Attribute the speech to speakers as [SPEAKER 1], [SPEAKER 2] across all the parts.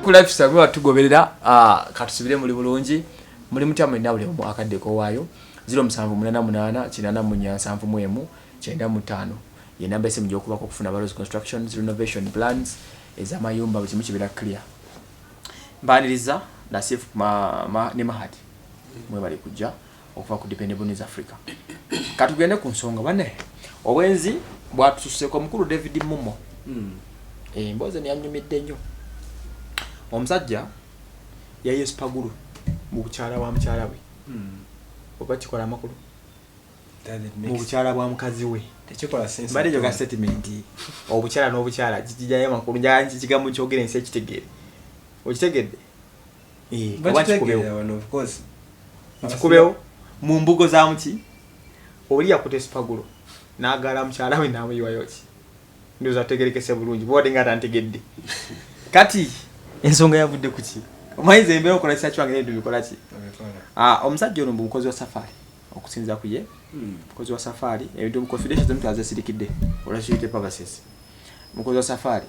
[SPEAKER 1] kulafisa lwa tugoberera ah, katusubire muli bulungi muli mutya mwena buli omu akadde kowaayo 0788 881 ye namba esimu gyokubako okufuna balos constructions renovation plans ezamayumba buli kimu kibeera clear mbaniriza nasif ne mahati mwebali kujja okuva ku Dependable News Africa. Katugende ku nsonga bane obwenzi bwatususeko omukulu David Mumo mm. e, emboozi eno yanyumidde nnyo omusajja yayesipagulu mu bukyala bwa mukyala we mm. oba kikola amakulu mu bukyala bwa mukazi we mbadde njoga
[SPEAKER 2] statement
[SPEAKER 1] obukyala n'obukyala kikijayo amakulu njakigambo kyogera ensi ekitegeere okitegedde Eh,
[SPEAKER 2] kikubewo
[SPEAKER 1] mu mbugo za muki oli yakuta esipagulo n'agaala mukyala we n'amuyiwayo ki ndowooza tutegerekese bulungi bwobadde nga tantegedde kati ensonga yavudde ku ki omayiza embeera okola kisa kiwange nebintu bikola ki ah, omusajja ono mbu mukozi wa safaari okusinza ku ye hmm. mukozi wa safaari ebintu muconfidential zomuntu azesirikidde olwakiyite pavases mukozi wa safaari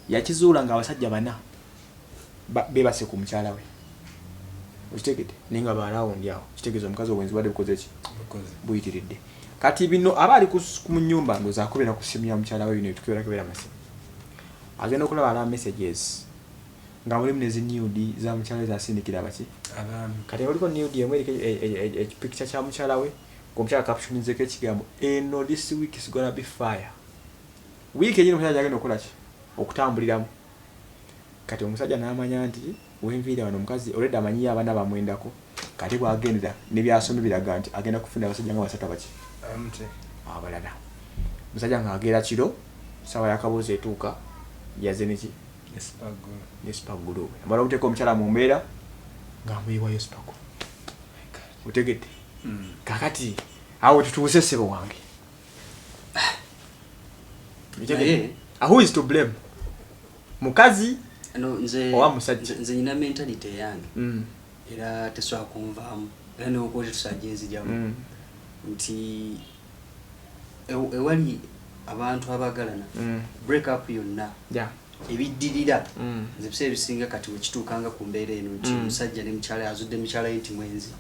[SPEAKER 1] yakizuula nga abasajja bana bebase ku mukyala we okitegede naye nga barawundi awo kitegeza omukazi obwenzi bade bukoze ki buyitiridde kati bino aba ali ku munyumba ndoza akubera ku simu ya mukyala we bino bitukibera kubera masimu agenda okulaba ala messages nga mulimu nezi nude za mukyala we zasindikira abaki kati waliko nude emu eriko ekipikikya e, e, e, kya mukyala we omukyala kapshonizeko ekigambo eno this week is gonna be fire wiiki enyini omukyala gyagenda okukola ki okutambuliramu Kati omusajja namanya nti wenviira wano omukazi already amanyiyo abana bamwendako kate bwagendera nebyasomye biraga nti agenda kufuna abasajja nga basatu abaki abalala musajja nga agera kiro sawa yakabuuza etuuka yaze neki ne spagulu we amala okuteeka omukyala mu mbeera nga amuyiwayo spagulu otegedde hmm. kakati awo tutuuse ssebo wange naye ah, who is to blame mukazi owa musajja nze nyina mentality
[SPEAKER 3] eyange mm. era tesobola kunvaamu era newokuba tetusajja enzijamu mm. nti ewali abantu abagalana mm. break up yonna ebiddirira mm. nze biseera ebisinga kati wekituukanga ku mbeera eno nti mm. omusajja ne mukyala azudde mukyala ye nti mwenzi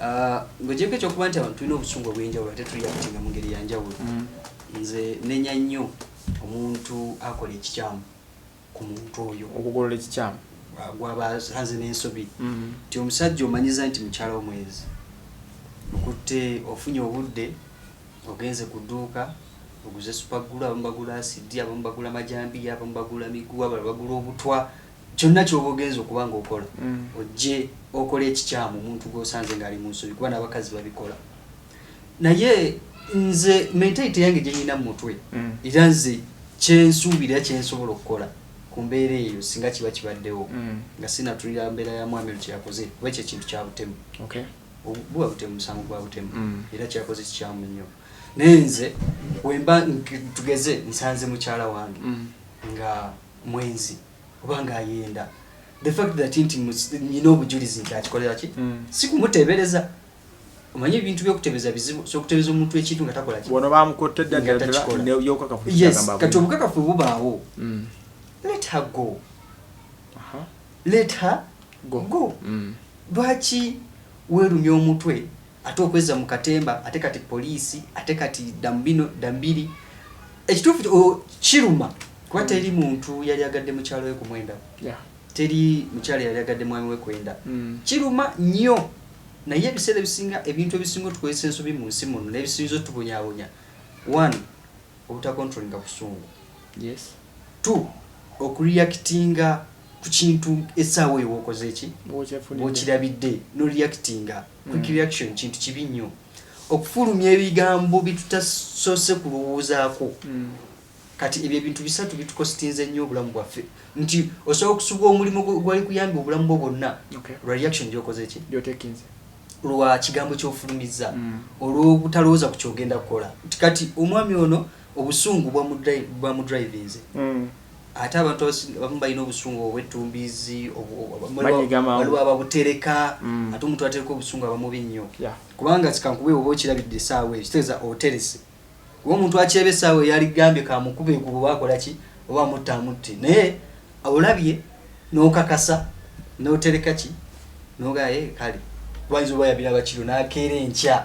[SPEAKER 3] ah, ngaogyeko ekyokuba nti abantu tulina obusungu obwenjawulo ate tuliyakutinga mu ngeri yanjawulo mm. nze nenya nnyo omuntu akola ekikyamu ku muntu oyo okugolola ekikyamu
[SPEAKER 1] ah, gwaba
[SPEAKER 3] aze n'ensobi nti omusajja omanyiza nti mukyala wo mwenzi okutte ofunye obudde Ogenze ku dduuka oguze supagulu, abamu bagula asidi, abamu bagula majambiya, abamu bagula miguwa, abalala bagula obutwa. Kyonna ky'oba ogenze okuba ng'okola mm. ojje okola ekikyamu omuntu gw'osanze ng'ali mu nsobi kuba n'abakazi babikola. Naye nze mentality yange gye nnina mu mutwe mm. era nze kye nsuubira kye nsobola okukola ku mbeera eyo singa kiba kibaddewo mm. nga sinatulira mbeera ya mwami lukyeyakoze kuba ekyo ekintu kya butemu. buba butemu musango gwa butemu mm. era kyakoze kikyamu nnyo naye nze wemba tugeze nsanze mukyala wange mm. nga mwenzi oba nga ayenda the fact that nti nyina obujulizi nti akikolera ki mm. sikumuteebereza omanyi ebintu byokutebeza bizibu sokutebeza omuntu ekintu nga takola ki wano bamukotta
[SPEAKER 1] eddagalaakati
[SPEAKER 3] obukakafu bubaawo let her go let her go, go. Mm. Lwaki welumya omutwe ate okwezza mu katemba ate kati police ate kati damubino dambiri ekituufu kiruma kuba mm. teri muntu yali agadde mukyalo we kumwenda yeah. teri mukyalo yali agadde mwami we kwenda mm. kiruma nnyo naye ebiseera ebisinga ebintu ebisinga otukozesa ensobi mu nsi muno nebisinza otubonyabonya one obutacontrolinga busungu yes. t okureactinga ku kintu essaawa eyo wokoze ki bwokirabidde no reactinga mm. quick reaction kintu kibi nnyo okufulumya ebigambo bitutasoose kulowoozaako mm. kati ebyo ebintu bisatu bitukositinze nnyo obulamu bwaffe nti osobola okusubwa omulimu gwali kuyambye obulamu bwo bwonna lwa reaction gyokoze ki lwa kigambo kyofulumizza mm. olwobutalowooza ku kyogenda kukola nti kati omwami ono obusungu bwamudrivinze mm. ate abantu abamu balina obusungu obwettumbiizi waliwo ababutereka mm. ate omuntu atereka obusungu abamubi nnyo kubanga kikankube oba okirabidde esaawa eyo kitegeeza oterese kuba omuntu akyeba esaawa eyo yaligambye kamukube ekuba oba akolaki oba amutta amutte naye olabye n'okakasa n'otereka ki nogaye kale wayinza oba yabiraba kiro nakeera enkya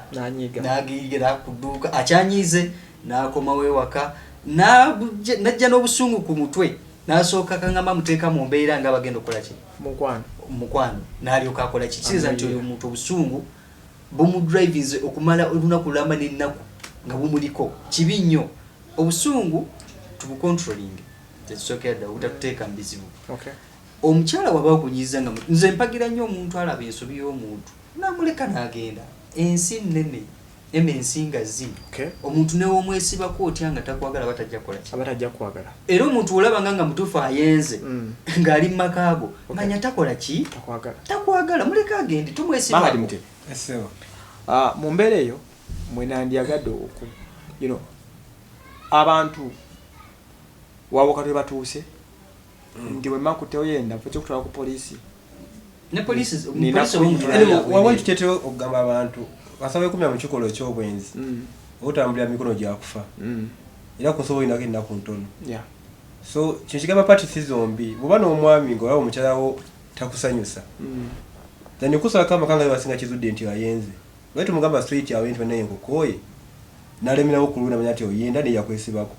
[SPEAKER 3] nagiigera kuduuka akyanyiize N'akomawo ewaka n'ajja n'obusungu ku mutwe n'asooka kangamba amuteeka mu mbeera nga bagenda okukola ki mukwano n'alyoka akola ki kiteeza nti oyo omuntu obusungu bumudrivinze okumala olunaku lulamba n'ennaku nga bumuliko kibi nnyo obusungu tubukontrolinge kyekisookera ddala obutatuteeka mu bizibu omukyala waba okunyiza nga nze mpagira nnyo omuntu alaba ensobi y'omuntu namuleka n'agenda ensi nnene Ema ensinga zi okay. Omuntu newomwesibako otya nga takwagala batajja kola ki abatajja kwagala era omuntu olaba nga nga mutufu ayenze mm. ngali makago okay. manya takola ki takwagala takwagala muleka agende tumwesiba mama dimte esewa ah
[SPEAKER 1] uh, mumbere yo mwenandi agado oku you know abantu wawokatwe batuuse nti wema kutewo yenda fo kyokutwala ku polisi
[SPEAKER 2] wawentutete okugamba abantu asaba ekumya mu kikolwa ekyobwenzi mm. otambulira mikono gyakufa mm. era ku nsobola olinako ennaku ntono so kino kigamba pati si zombi bwoba n'omwami nga olaba omukyalawo takusanyusa mm. then kusalako amakanga basinga kizudde nti ayenze Naye tomugamba straight away nti banaye nkukooye nalemerawo kulwe namanya nti oyenda naye yakwesibako.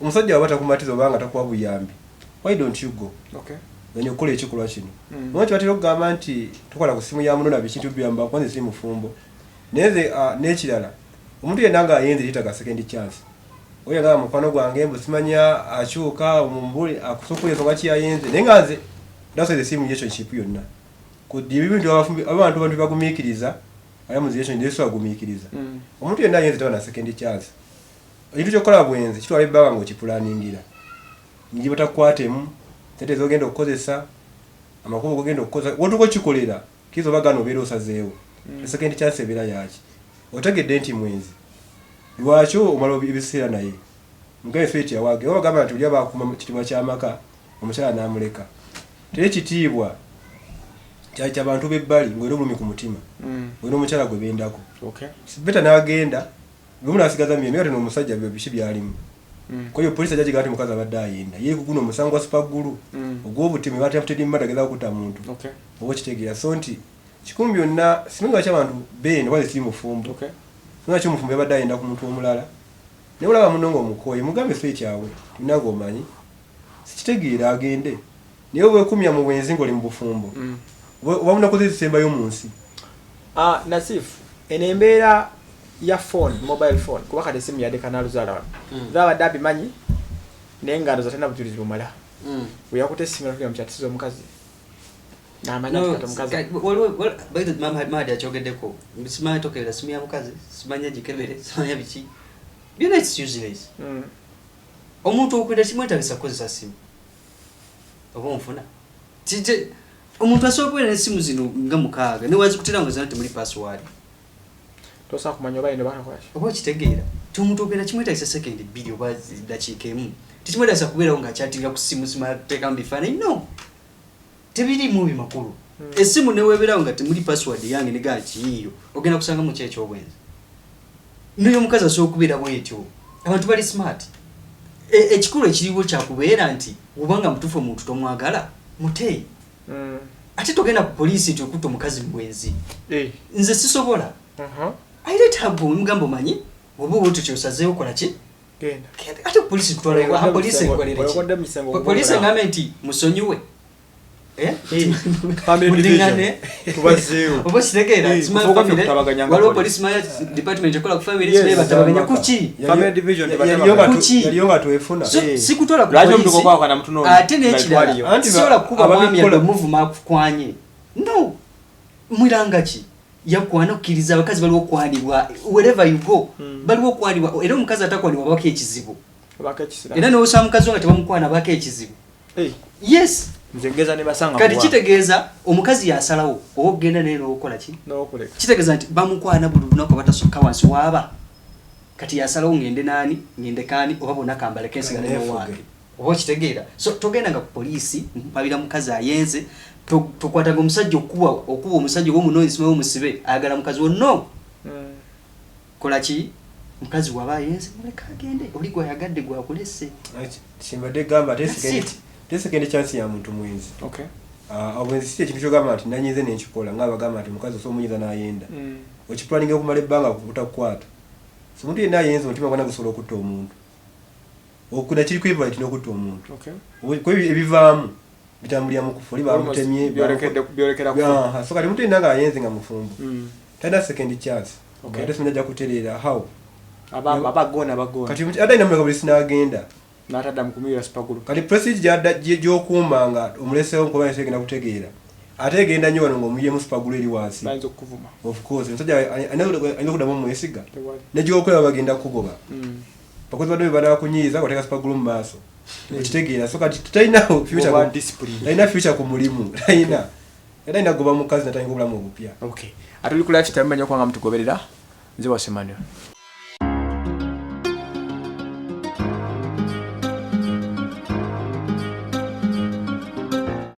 [SPEAKER 2] Omusajja waba takumatiza oba nga takuwa buyambi why don't you go then okukola ekikolwa kino. Omanyi kyebatera okugamba nti tokola ku simu ya muno na biki nti obiyambako kuba nze siri mufumbo naye nze a nekirala omuntu yenna nga ayenze yetaga second chance oyo agamba mukwano gwange mbu simanyi akyuka mumubuli akusokole nsonga ki yayenze naye nga nze that's why the same relationship yonna Kuddi ebibi nti abafumbi abantu bantu bagumikiriza aya mu ziyesho ndeso agumikiriza mm. omuntu yenna ayenze taba na second chance ekintu kyokukola bwenzi kitwala ebbanga ng'okipulaningira nji batakukwatemu sente zogenda okukozesa amakubo gogenda okukozesa wotuka okikolera kiza oba gana obeera osazeewo mm. second chance ebeera yaki otegedde nti mwenzi lwaki omala ebiseera naye mugambye feti awage oba bagamba nti oli abakuuma kitibwa kyamaka omukyala n'amuleka teri kitiibwa kyali kya bantu b'ebbali ng'era obulumi ku mutima mm. olina omukyala gwe bendako beta n'agenda lumu n'asigaza myemye kati n'omusajja biki byalimu mm. kwayo poliisi ajja kigaa nti mukazi abadde ayenda ye kuguno omusango gwa sipaggulu mm. ogw'obutemu ebatemutedimma tageza kukuta muntu oba okitegeera so nti kikumi byonna simanyi lwaki abantu benda oba zikiri mufumbo simanyi lwaki omufumbo yabadde ayenda ku muntu omulala naye olaba muno ng'omukooye mugambe so ekyawe tulina ng'omanyi Sikitegeera agende naye wekumya mu bwenzi ngoli mu bufumbo oba munaku ze zisembayo mu nsi. Ah Nasif
[SPEAKER 1] eno embeera ya phone mobile phone kuba kati esimu yadde kanaluzaala wano mm. zaba abadde abimanyi naye nga ndoza tena bujulizi bumala mm. weyakute esimu natugenda mukyatisiza omukazi namanyamadi
[SPEAKER 3] akyogeddeko simanyi tokerera simu ya mukazi simanya gikebere simanya biki byona its useless mm. omuntu okwira kimwetagisa kukozesa simu oba onfuna kije omuntu asobola okubeera nesimu zino nga mukaaga newazikutira nga zona temuli password
[SPEAKER 1] tosobola kumanya oba yinobakolaki oba okitegeera ti
[SPEAKER 3] omuntu okwira kimwetagisa sekendi bbiri oba dakiika emu tekimwetagisa kubeerawo nga akyatirira ku simu simala kuteekamu bifaananyi no tebirimu bimakulu hmm. esimu neweberawo nga temuli password yange negaa kiyiyo ogenda kusanga mu kyekyobwenzi noyo omukazi asobola okubeera bwetyo abantu bali smart e, ekikulu ekiriwo kyakubeera nti obanga mutufu omuntu tomwagala mutee hmm. ate togenda ku poliisi nti okutta omukazi mubwenzi eh. nze sisobola uh-huh. airetabwe mugamba omanyi oba oba otyo kyosazeewo kola ki ate polisi tutwalapolisi engambe nti musonyiwe eh? waliwo polisi maya department ekola ku family naye batabaganya kuki
[SPEAKER 2] sikutwala kupolisi
[SPEAKER 3] ate nekirala sisobola kukuba mwami yadde omuvuma akukwanye no Mwilanga ki? Yakuwa anakkiriza abakazi baliwo okwanibwa wherever you go hmm. baliwo okwanibwa era omukazi atakwanibwa abako ekizibu era nowosa mukazi wo nga tebamukwana abako ekizibu yes
[SPEAKER 1] kati kitegeeza
[SPEAKER 3] omukazi yasalawo oba okugenda naye nowokola ki kitegeeza nti bamukwana buli lunaku abatasukka wansi waaba kati yasalawo ngende naani ngendekaani oba bona kambaleko ensigala newange oba okitegeera so togendanga ku poliisi mpabira mukazi ayenze tokwataga omusajja okukuba okuba omusajja oba omunoonyi simawe omusibe ayagala mukazi wo no hmm. kola ki mukazi waba ayenze muleka agende oli gwayagadde gwakulese kimbadde
[SPEAKER 2] gamba
[SPEAKER 3] tesekende
[SPEAKER 2] chansi ya muntu mwenzi ah,
[SPEAKER 1] obwenzi si
[SPEAKER 2] ekintu kyogamba nti nanyize nenkikola nga abagamba nti omukazi osobola omunyiza n'ayenda hmm. okipulaninga okumala ebbanga kukuta kukwata so omuntu yenna ayenze omutima gwana gusobola okutta omuntu okuda kiri kwevula kino kutta omuntu kuba
[SPEAKER 1] ebivaamu
[SPEAKER 2] bitambulira mu kufa oli bamutemye
[SPEAKER 1] so kati omuntu yenna ng'ayenze
[SPEAKER 2] nga mufumbo hmm. talina second chance ate simanya ajja kutereera how
[SPEAKER 1] kati ate
[SPEAKER 2] alina muleka buli sinagenda
[SPEAKER 1] kati president
[SPEAKER 2] gyokuuma nga omulesewo nkuba nsi egenda kutegeera ate egenda nyo wano ng'omuyemu supagulu eri wansi of
[SPEAKER 1] course omusajja
[SPEAKER 2] alina okudamu omwesiga negyokolaba bagenda kugoba mm. bakozi badde bebanakunyiiza oteka supagulu mu maaso okitegeera so kati talina alina
[SPEAKER 1] future ku mulimu
[SPEAKER 2] talina era alina kugoba mukazi natandika obulamu
[SPEAKER 1] obupya ate oli ku life
[SPEAKER 2] time manyi
[SPEAKER 1] okubanga mutugoberera
[SPEAKER 2] nze
[SPEAKER 1] wasemanyo